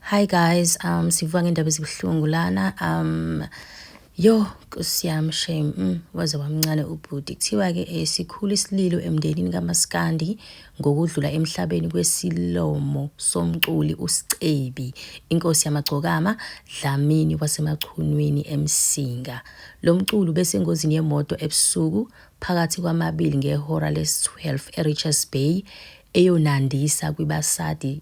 Hi guys, um sivuka ngendaba ezibuhlungu lana. Um yo kusiyam shame mm, waze wamncane ubhuti. Kuthiwa ke eh, sikhulu isililo emndenini kaMaskandi ngokudlula emhlabeni kwesilomo somculi uScebi, inkosi yamagcokama Dlamini wasemachunwini eMsinga. Lo mculi ubesengozini yemoto ebusuku phakathi kwamabili ngehora les-12 eRichards Bay eyonandisa kwibasadi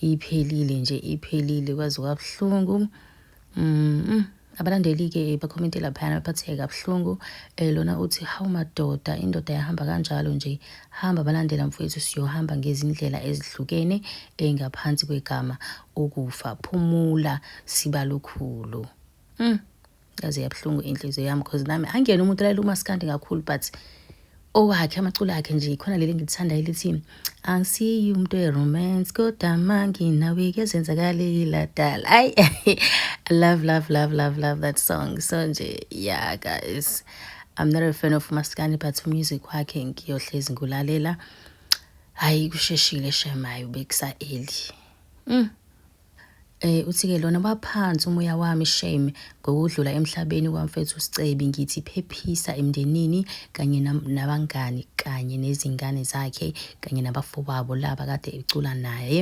iphelile nje iphelile kwaze kwabuhlungu mm abalandeli-ke bakhomente laphayana baphatheke kabuhlungu um lona uthi hawu madoda indoda yahamba kanjalo nje hamba balandela mfowethu siyohamba ngezindlela ezihlukene engaphansi kwegama ukufa phumula sibalukhulu mm. yaze yabuhlungu inhliziyo yami cause nami angiyena umuntu olalela umaskandi kakhulu but owakhe amaculo akhe nje khona leli ngilithandayo elithi angisiyi umuntu we-romance kodwa manginawe kuyazenzakaleki ladala ayi i love love love love love that song so nje yeah guys i'm not a fan of umaskandi but umusic wakhe ngiyohlezi ngikulalela hhayi kusheshile shemayo bekusa-eli mm. Eh uthike lona baphansi umoya wami shame ngokudlula emhlabeni kwamfethu Sicebi ngithi phephisa emndenini kanye nabangani kanye nezingane zakhe kanye nabafowabo laba kade ecula naye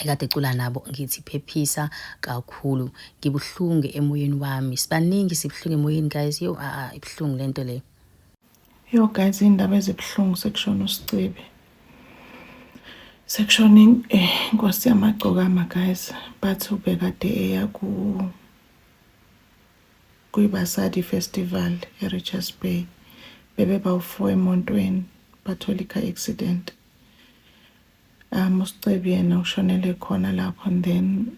ekade ecula nabo ngithi phephisa kakhulu ngibuhlungu emoyeni wami sibaningi sibuhlungu emoyeni guys yo a ibuhlungu lento le Yo guys iy'ndaba ezibuhlungu sekushona usicebi sekushona eh, inkosi yamagcokama guys bathi ubekade eya ku kwiBasadi Festival eRichards Bay bebe bawu-four emontweni bathola i-car accident um usicebi yena ushonele khona lapho and then